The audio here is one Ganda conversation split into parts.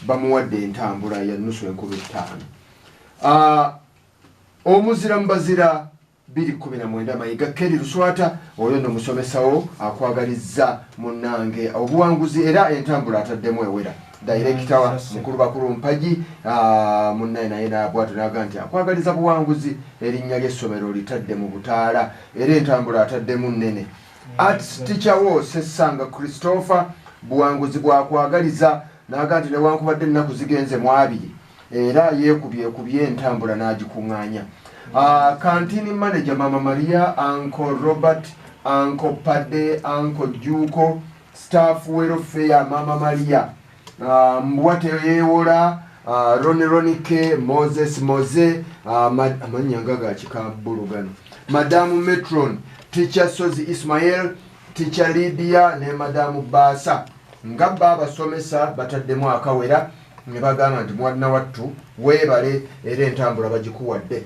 bamuwadde entambula ya nusu enkumi ttaano ah, omuzira mu bazira biri kumi na mwenda mayiga keri luswata oyo no musomesawo akwagalizza munange obuwanguzi era entambula ataddemu ewera dayirekita wa mukulu bakulu mpagi ah, munnaye naye nabwatu naga nti akwagaliza buwanguzi erinnya ly'essomero litadde mu butaala era entambula ataddemu nnene Arts teacher wo Sessanga Christopher buwanguzi bwakwagaliza naga nti newankubadde ennaku zigenze mu abiri era yeekubyekubye entambula n'agikung'anya ah, kantini manager mama maria anko robert anko pade anko juuko staff welfare mama maria Uh, mbwa teyewola uh, roni ronike moses moze uh, amannya nga gakika bbulu gano madamu metron ticha sozi ismael ticha lidia ne madamu baasa nga ba abasomesa bataddemu akawera ne bagamba nti mwana wattu weebale era entambula bagikuwadde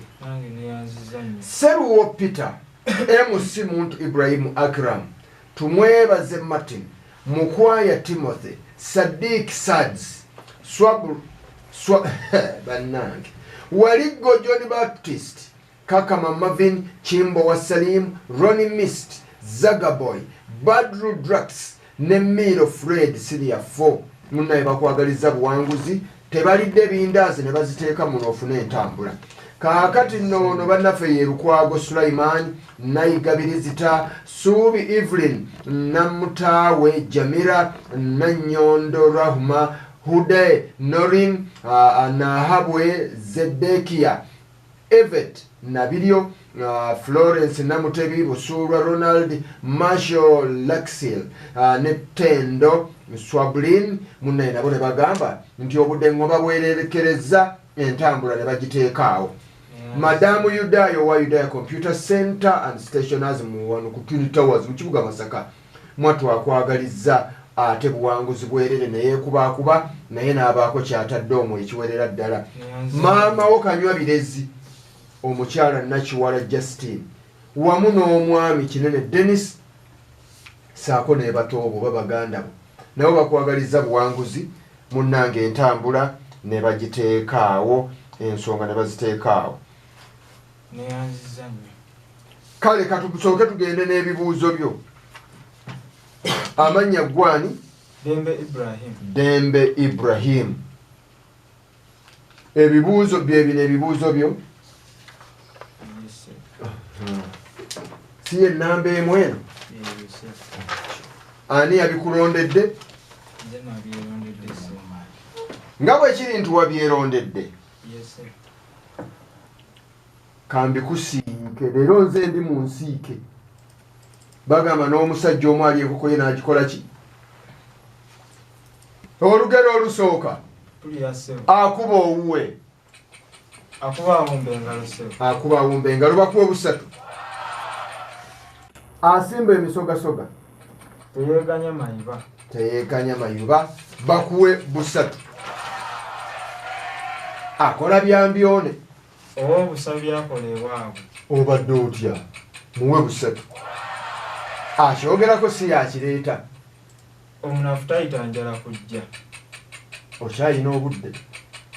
seruwo peter mc muntu ibrahimu akram tumwebaze martin Mukwaya Timothy, Sadiq Sads, Swabul, Swa, Banange, Wali Gojon Baptist, Kakama Marvin, Kimbo wa Salim, Ronnie Mist, Zagaboy, Badru Drax, ne Miro Fred Siria 4. Munaye bakwagaliza buwanguzi tebalidde bindaazi ne baziteeka muno ofuna entambula kaakati noono bannaffe ye lukwago sulaiman nayigabirizita suubi evelyn namutaawe jamira nanyondo rahuma hude norin nahabwe zedekiya Evett Nabiryo, Florence Namutebi, Busuulwa Ronald, Marshall Laxil ne Tendo Swabulin munnaye nabo ne bagamba nti obudengo babwererekerezza entambula ne bagiteeka awo. Madaamu Yudaaya owa Yudaaya Computer Center and Stationers mu wano ku Twin Towers mu kibuga Masaka Mwattu akwagalizza ate buwanguzi bwerere neyekubaakuba naye n'abaako ky'atadde omwo ekiwerera ddala. Maama wo Kanywabirezi, omukyala Nakiwala Justine wamu n'omwami Kinene Denis saako nebatoobo oba baganda bo nabo bakwagalizza buwanguzi munnange entambula nebagiteekaawo ensonga nebaziteekaawo. kale katusooke tugende n'ebibuuzo byo amannya ggwani dembe ibrahimu ebibuuzo byebino ebibuuzo byo si yenamba emu eno ani yabikulondedde nga bwekiri nti wabyerondedde kambikusiike leero nze ndi mu nsiike bagamba n'omusajja omu ali enkoko ye n'agikola ki olugero olusooka akuba owuwe akuba awumba engalo bakuwa obusatu asimba emisogasoga teyeganya mayiba teyeganya mayuba bakuwe busatu akola byambyone oba obusabi byakola ewaabwe obadde otya muwe busatu akyogerako si yakireeta omunafu tayita njala kujja okyalina obudde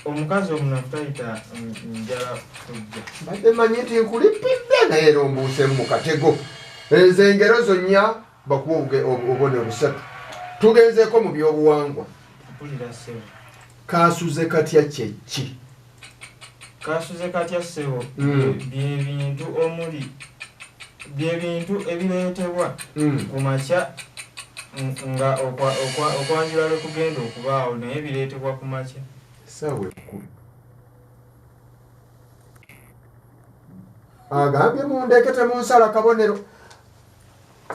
omukazi omunafu tayita njala kujja mbadde manyi nti nkulipidde naye era ombuusemu mu katego Ezo engero zo nnya bakuwa obubonero busatu. Tugenzeeko mu byobuwangwa. Kaasuze katya kye ki? Kaasuze katya ssebo hmm. byebintu omuli byebintu ebireetebwa hmm. ku makya nga okwanjula lwe kugenda okubaawo naye bireetebwa ku makya. Ssaawa ekkulu. agambye mundeke temunsala kabonero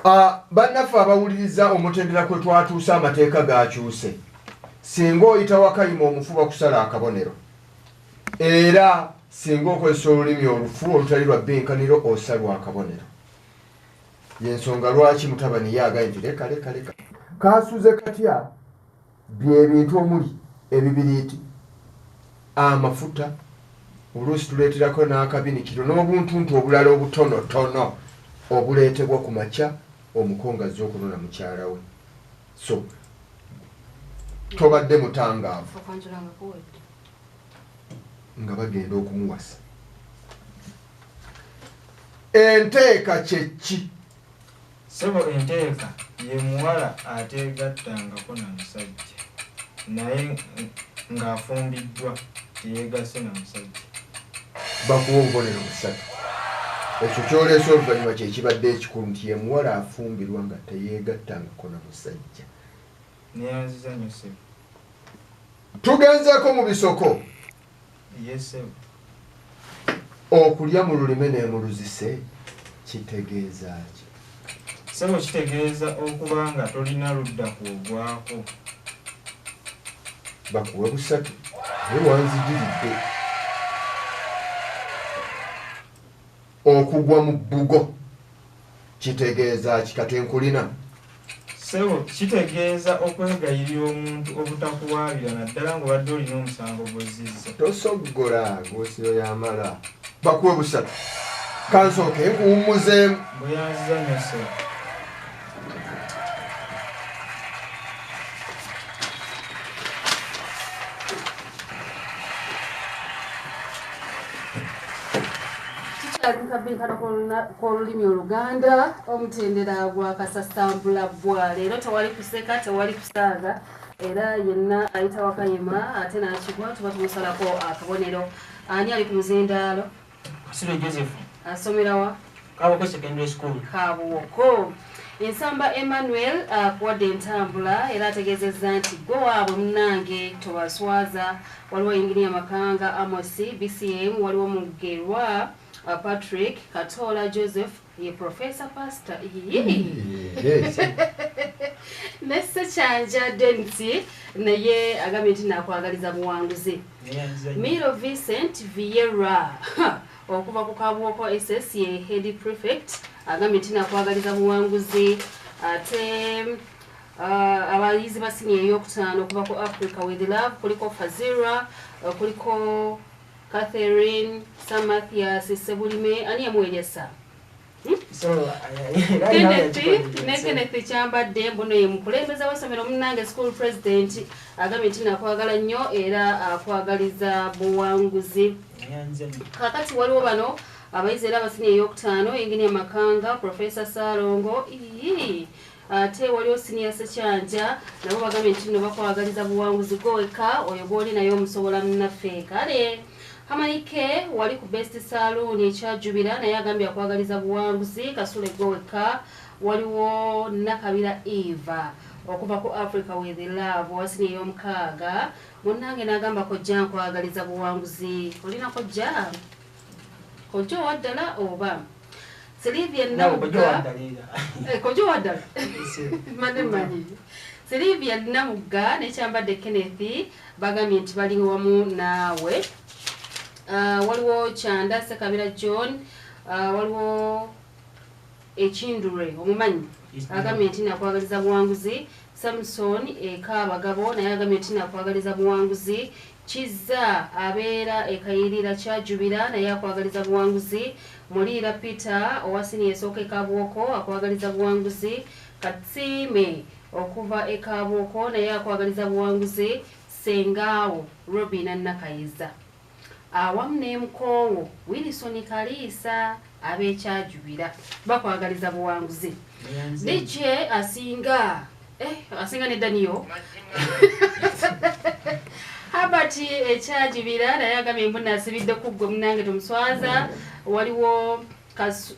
ah, bannaffe abawuliriza omutendera kwe twatuuse amateeka gakyuse singa oyita wakayima omufuba kusala akabonero era singa okozesa olulimi olufu olutali lwa binkaniro osalwa akabonero yensonga lwaki mutabani ye agaye nti leka leka leka kasuze katya byebintu omuli ebibiriiti amafuta oluusi tuleeterako n'akabinikiro n'obuntuntu obulala obutonotono obuleetebwa ku makya omuko nga azze okunona mukyala we so tobadde mutangaavu nga bagenda okumuwasa enteeka kyekki Ssebo entegeka ye muwala ateegattangako na musajja naye ng'afumbiddwa teyeegasse na musajja. Bakuwa obubonero busatu. Ekyo ky'oleese oluvannyuma kye kibadde ekikulu nti ye muwala afumbirwa nga teyeegattangako na musajja. Nneeyanziza nnyo ssebo. Tugenzeeko mu bisoko. okulya mu lulime nemuluzise kitegeeza ki sebo kitegeeza okuba nga tolina ludda kwogwako bakuwa busatu naye wanzijiridde okugwa mu bbugo kitegeeza ki kati nkulina sebo kitegeeza okwegayirira omuntu obutakuwaabira naddala ngaobadde olina omusango gwozizza tosoggola ngosiyo yamala bakuwe busatu kansooke nkuwummuzeemu bweyanziza nyo sebo kabinkano kwolulimi oluganda omutendera gwa kasasambula bwa leero tewali kuseka tewali kusaaga era yenna ayita wakayima ate nakigwa tuba tumusalako akabonero ani ali ku muzindaalo Kasirwe Joseph. Asomera wa? Kabuwoko Secondary School. Kabuwoko. Ensamba Emmanuel akuwadde entambula era ategeezezza nti gwe waabwe munange tobaswaza waliwo yinginiya Makanga Amosi, BCM waliwo Mugerwa, Patrick Katoola Joseph ye professor pastor nese kyanja densi naye agambye nti nakwagaliza buwanguzi miro vincent viera okuva ku kabwoko ss ye head prefect agambye nti nakwagaliza buwanguzi ate uh, abayizi basini eyokutaano okuva ku africa with love kuliko fazira uh, kuliko Catherine Samathias Sebulime ani yamuweeresa ne Kenneth Kyambadde mbuno ye mukulembeze w'essomero munnange school president agambye nti nakwagala nnyo era akwagaliza buwanguzi kakati waliwo bano abayizi era abasini eyokutaano engini amakanga profesa salongo ii Ate waliwo siniya sekyanja nabo bagambye nti nno bakwagaliza buwanguzi gwe wekka oyo gwoli naye omusobola munaffe kale hamanike wali ku best saluuni ekyajubira naye agambye akwagaliza buwanguzi kasule gwe wekka waliwo nakabira eva okuva ku africa with love wasini ey'omukaaga munnange n'agamba kojja nkwagaliza buwanguzi olina kojja kojja owaddala oba Sylivia Namugga eh, kojo wadala mane manyi Sylivia Namugga ne kyambadde Kenneth bagambye nti bali wamu naawe uh, waliwo kyanda Sekabira John uh, waliwo ekindure omumanyi agambye nti nakwagaliza buwanguzi Samson eka abagabo naye agambye nti nakwagaliza buwanguzi kizza abeera ekayirira kyajubira naye akwagaliza buwanguzi muliira peter owa siniya esooka ekabwoko akwagaliza buwanguzi katsiime okuva ekabwoko naye akwagaliza buwanguzi sengaawo robina nakayiza awamu ne mukoowo Wilson Kaliisa ab'e Kyajubira bakwagaliza buwanguzi. DJ asinga eh, asinga ne Daniel Herbert ekyajubira naye agambye mbu nasibidde ku ggwe munange tomuswaza waliwo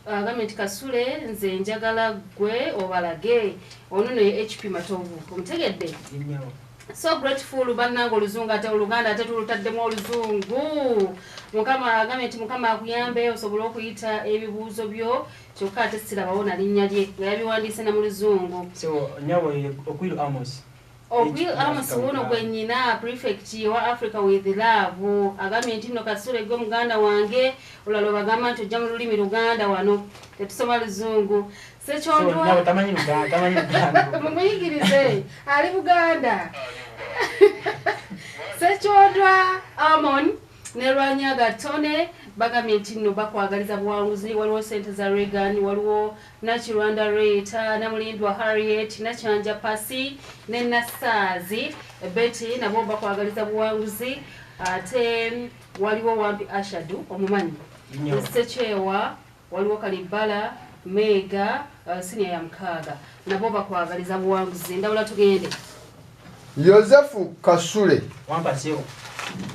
agambye nti kasule nze njagala gwe obalage ono noye hp matovu omutegedde so grateful bannanga oluzungu ate oluganda ate tulutaddemu oluzungu mukama agambye nti mukama akuyambe osobole okuyita ebibuuzo byo kyokka ate sirabawo nalinnya lye nga yabiwandiise na mu luzungu Okwil Amos wuuno gwe nnyina prefect wa Africa with love agambye nti nno Kasule gwe muganda wange olwala obagamba nti ojja mu lulimi Luganda wano tetusoma luzungu sekyondwamumuyigirize ali Buganda sekyondwa Amon ne Lwanyaga Tone bagambye nti nno bakwagaliza buwanguzi waliwo sente za Reagan waliwo Nakirwanda Rita, Namulindwa Harriet, Nakyanja Pasi ne Nassaazi Betty nabo bakwagaliza buwanguzi ate waliwo Wampi Ashadu omumanyi Ssekyewa waliwo Kalibbala Meega uh, siniya ya mukaaga nabo bakwagaliza buwanguzi endawula tugende Yosefu Kasule wampasewo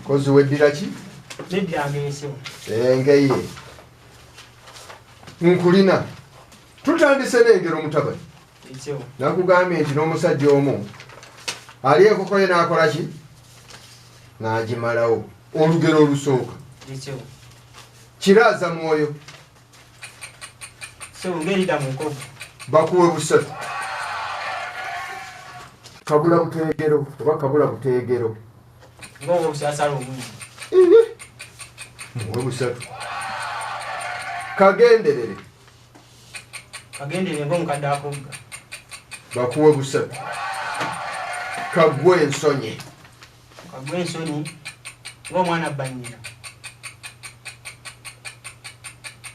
kozi weddira ki? Neddira ngeyesewo engeye nkulina tutandise n'engero mutabani nakugambye nti n'omusajja omu ali enkokoye n'akola ki n'agimalawo olugero olusooka kiraaza mwoyo bakuwe busatu kabula buteegero oba kabula buteegero ngoba obusasala obungi muwe busatu kagenderere kagenderere ngaomukadde akugga bakuwe busatu kagwe ensonyi kagwe ensonyi ngaomwana banyina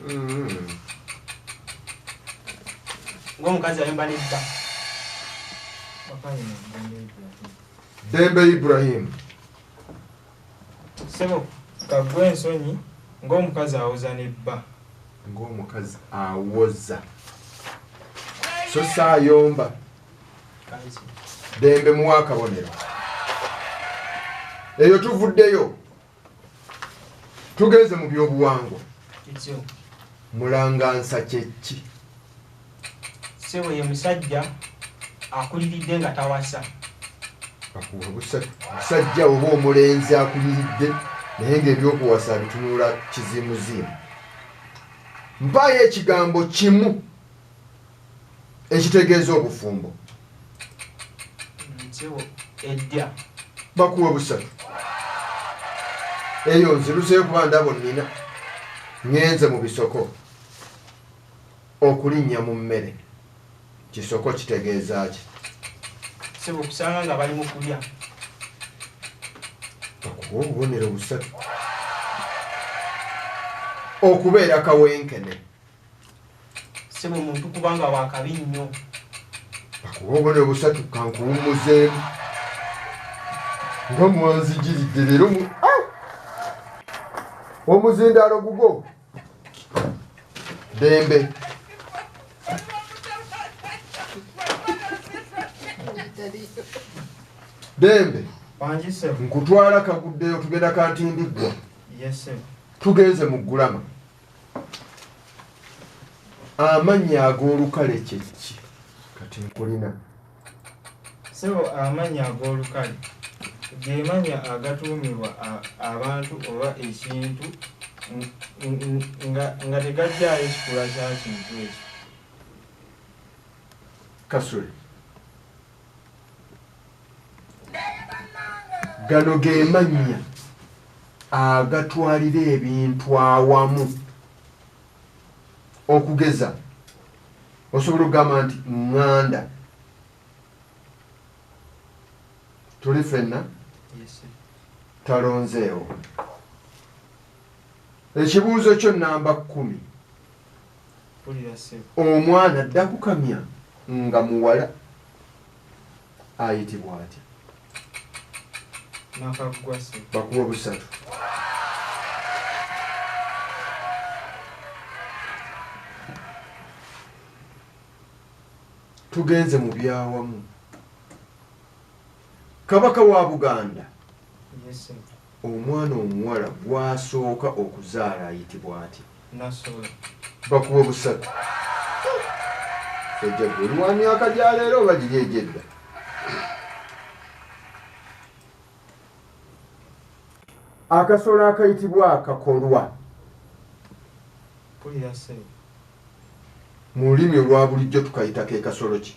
mm-hmm. ngaomukazi ayomba nebba Dembe Ibrahim. Sebo kagwe ensonyi ng'omukazi awoza ne bba. Ng'omukazi awoza. So saayomba. Dembe muwa akabonero. Eyo tuvuddeyo. tugenze mu byobuwangwa mulangansa kyekki sebo ye musajja akuliridde nga tawasa musajja oba omulenzi akuliridde naye ngaebyokuwasa bitunula kizimuzimu mpaayo ekigambo kimu ekitegeeza obufumbo bakuwa busatu eyo nziruseyo kuba ndabo nina ngenze mu bisoko okulinnya mu mmere kisoko kitegeeza ki okusanga nga bali mukulya bakuwa obubonero busatu okubeera kawenkene sebo muntu kubanga wakabi nnyo bakuba obona obusatu kankuwumuzeemu nga mwanzijiridde leero ah! omuzindaalo gugo dembe dembe nkutwala kaguddeyo tugenda kantindiggwa tugenze mu ggulama amannya ag'olukale kyekki kati nkulina sebo amannya ag'olukale gemannya agatuumibwa abantu oba ekintu nga tegajjayo kikula kya kintu ekyo kasule gano gemannya agatwalira ebintu awamu okugeza osobola okugamba nti ŋŋanda tuli fenna talonzeewo ekibuuzo kyo namba kumi omwana dda kukamya nga muwala ayitibwa atya? Nakaggwa ssebo. Bakuwe busatu. Tugenze mu byawamu. Kabaka wa Buganda. Yes, sir. Omwana omuwala gw'asooka okuzaala ayitibwa atya? Nassolo. Bakuwe busatu. Jajja ggwe oli wa myaka gya leero oba giri egy'edda? Akasolo akayitibwa akakolwa. Mpulira ssebo. Mu lulimi olwa bulijjo tukayita ke kasolo ki?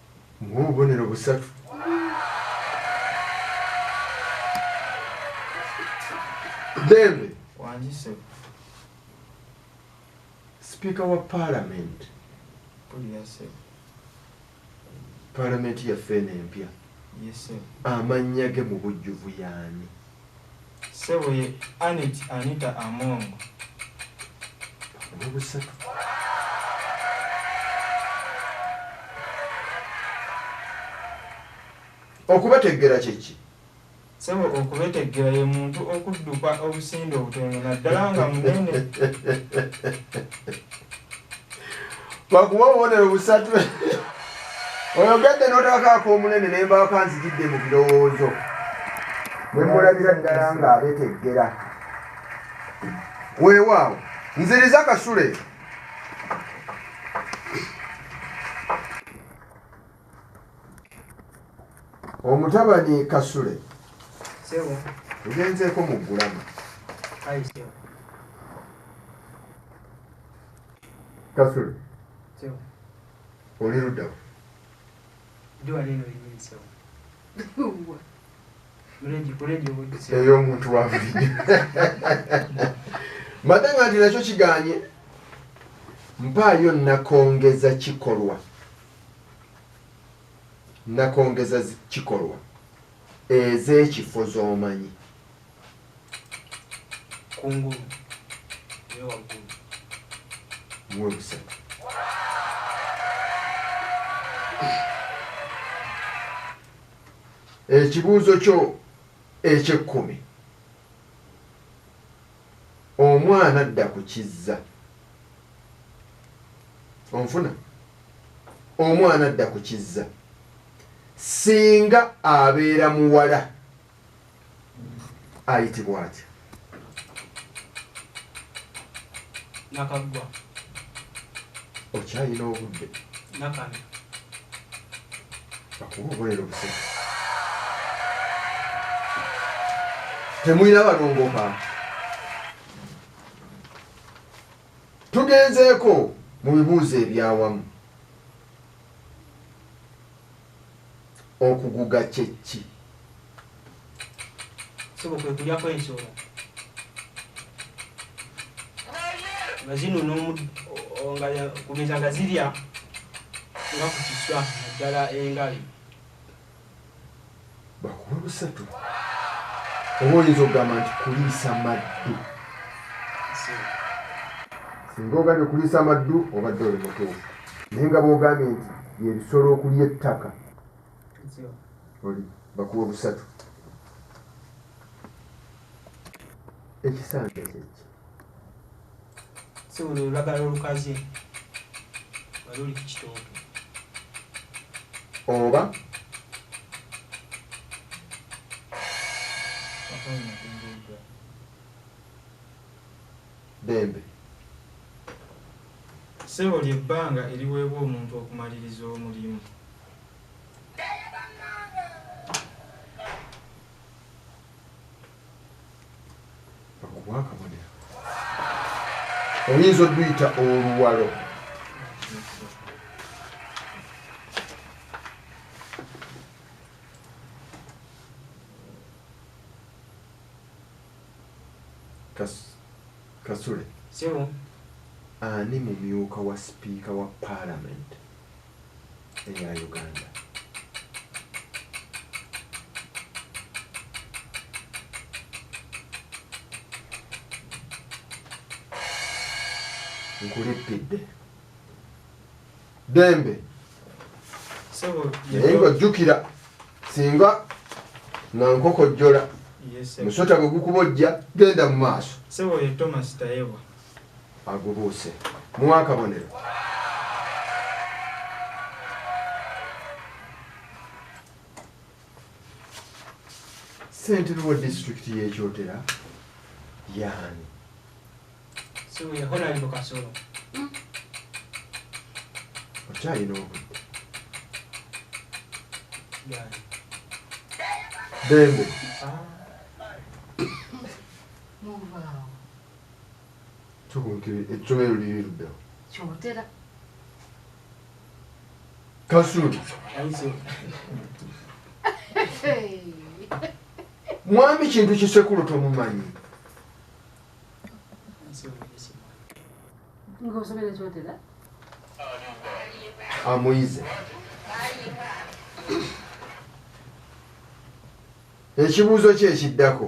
ng'obubonero busatu. Ddembe. Wangi ssebo. Sipiika wa Paalamenti. Mpulira ssebo. Paalamenti yaffe eno empya. Ye ssebo. Amannya ge mu bujjuvu y'ani? Ssebo ye Annet Anita Among. Okubeteggera kye ki? Ssebo okubeteggera ye muntu okudduka obusinde obutono naddala nga munene. bakuwa obubonero busatu oyogedde n'otakakaaka omunene ne mbaako anzijidde mu birowoozo ne mulabira ddala ng'abeteggera weewaawo nziriza kasule omutabani kasule ngenzeeko mu ggulama kasule oli luddawo eyo omuntu wabulijjo mbadde nga nti nakyo kiganye mpaayo nakongeza kikolwa nakongeza kikolwa ez'ekifo z'omanyi kungulu newaggulu muwe busatu ekibuuzo kyo ekyekkumi omwana adda ku kizza onfuna omwana adda ku kizza singa abeera muwala ayitibwa atya nakaggwa okyayina obudde nakana akuba obulero busatu temulina balongoka Tugenzeeko mu bibuuzo eby'awamu. Okuguga kye ki? Ssebo kwe kulyako ensolo nga zino n'omugeza nga zirya nga ku kiswa naddala engabi. bakuwe busatu oba oyinza okugamba nti kuliisa maddu singa ogambye kuliisa maddu obadde oli mutuufu naye nga bwogambye nti yebisolo okulya ettaka oli bakuwa busatu ekisange kyeki sebo lwe lulagala olukaze nga luli ku kitooke oba dembe sebo lyebbanga eriweebwa omuntu okumaliriza omulimu bakuwa akabonero oyinza oduyita oluwalo kasule ani mumyuka wa sipiika wa palamenti eya Uganda. nkulippidde dembe naye ng'ojjukira singa nga nkokojjola musota bwe gukuba ojja genda mu maaso agubuuse muwa akabonero ssentebe wa disitulikiti y'ekyotera yaani okyalina obudde dembe ah. ekkomero liri luddawa kyotera kasuli mwami kintu kisekulo tomumanyi amuyize ekibuuzo kyekiddako